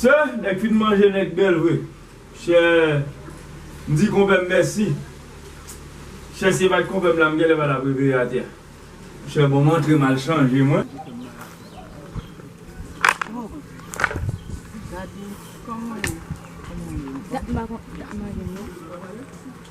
Sè nèg fin manje nèg bèl vre chè m di konpèm mèsi chè si e pat konpèm la m genlè pa tap reveye atè chè bon m antre m al chanje mwen.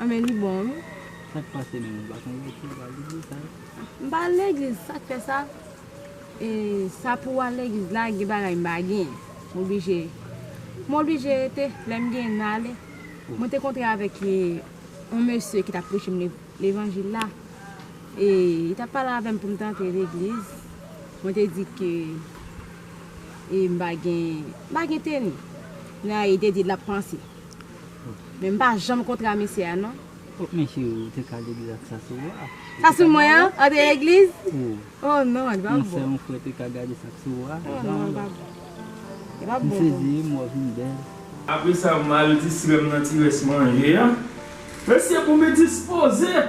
Amen li bon wi. Sak pase menm ou pa konn rete ou pa al legliz sa yo. M pa al legliz sak fè sa e sa pou al legliz la gen bagay m pa gen m oblije m oblije rete lèm gen m ale mwen te kontre avèk yon mesye ki tap preche m levanjil la e li tap pale avèm poum t antre legliz mwen te di ke e m pa gen m pa gen teni nan e li te di lap panse. Men m pa janm kontra mesye a non. Oh mesye ou te ka legliz ak sa sou ou a. Sa sou mwen an? An de legliz? Ou. Oh non, li pa bon. Yon sè yon frè te ka gade sa k sou ou a. Oh non, li pa bon. Li pa bon. M sezi, m wè w vin bèl. Apresa m al distrè m nan ti rès manje a. Mesye pou m dispoze!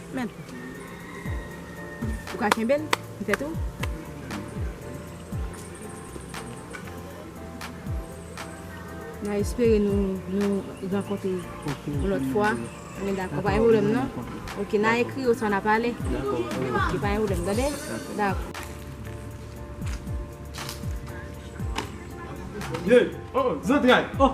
Mèt. Ou ka kenbe l, petèt ou. Mwen espere nou rankontre yon lòt fwa. Mwen dakò, pa gen pwoblèm non. Ok, n a ekri oswa n a pale. Ok, pa gen pwoblèm, tande? Dakò. Ye, o, zantray, o!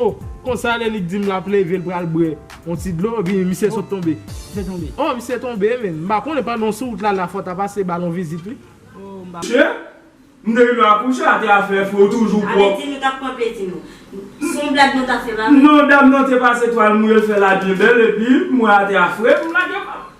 Oh! Konsa lè li dim lap leve l pral bwè yon ti dlo epi misye sot tonbe. Misye tonbe. Oh misye tonbe men. M pa konnen pandan w sou wout la la fò w ta pase ba l yon vizit wi. Oh m pa. Che, m te rive akouche ate a fè fre w toujou pwòp. Apeti nou tap pran plezi nou. Se yon blag nou ta fè la. Non dam nan te pase twal mouye l fè la byen bèl epi m wè ate a fre m lage pa m.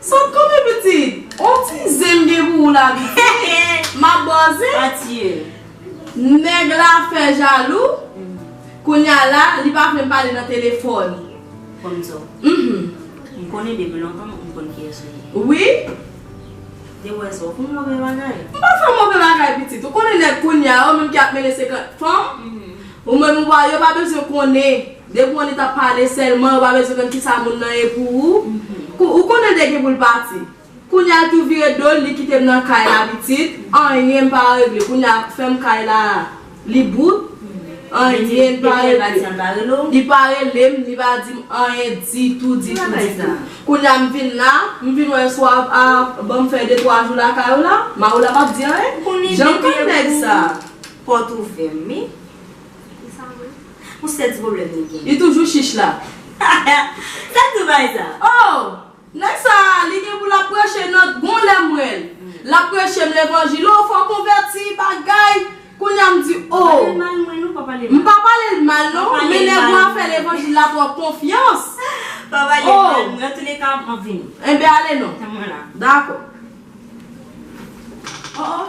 Sot kòmè pitit. On ti zen m gen pou ou la vite. Map ba w zen. Pa tiye l. Nèg la fè jalou. Kounya la li pa vle m pale nan telefòn. Konzo. Mph. M konnen depi lontan m konn kiyès ou ye. Wi. Depi wè sa w fè move bagay. M pa fè move bagay pitit. Ou konnen nèg kounya yo menm ki ap mennen 50 fanm. Ou menm ou pa yo pa bezwen konnen. Depi w anita pale selman ou pa bezwen konn kisa moun nan ye pou ou kou ou konnen de gen pou l pati kounya l tou vire do l li kite m nan kay la pitit anyen pa regle kounya fèm kay la li bout anyen pa regle li pa rele m li pa di m anyen ditou ditou ditou kounya m vin la m vin wè swa a banm fè de twa jou lakay ou la maroula pap di anyen janm konn nèg sa. Pòt ouvè wi. Li sa vre? Pou sèl ti pwoblèm li gen. Li toujou chich la. Gad zoubay sa. Oh! Nèg sa a, li gen pou l ap preche nan gon lè m wè l. L ap preche m levanjil. Oh, fò w konvèti, bagay. Kounye a m di, oh. Pa pale l mal mwen non, pa pale l mal. M pa pale l mal non, men nèg ou a fè levanjil la twòp konfyans. Pa pale l mal mwen. An touleka, m ap vini. Enben ale non. Tanmen la. Dakò. Oh, oh.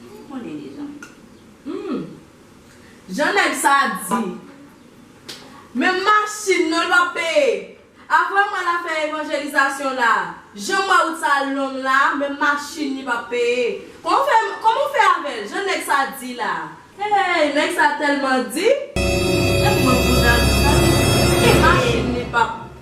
Mwen konnen deja. Humm. Jan nèg sa a di. Menm machin non l pap peye. Aprè mwen la fè evanjelizasyon la. Jan m wè wout sa a long la a, menm machin li pap peye. Kòman w fè, kòman w fè avè l? Jan nèg sa a di la a. Hey, nèg sa a tèlman di. Epi mwen pou nan l sa. Li di machin li pap.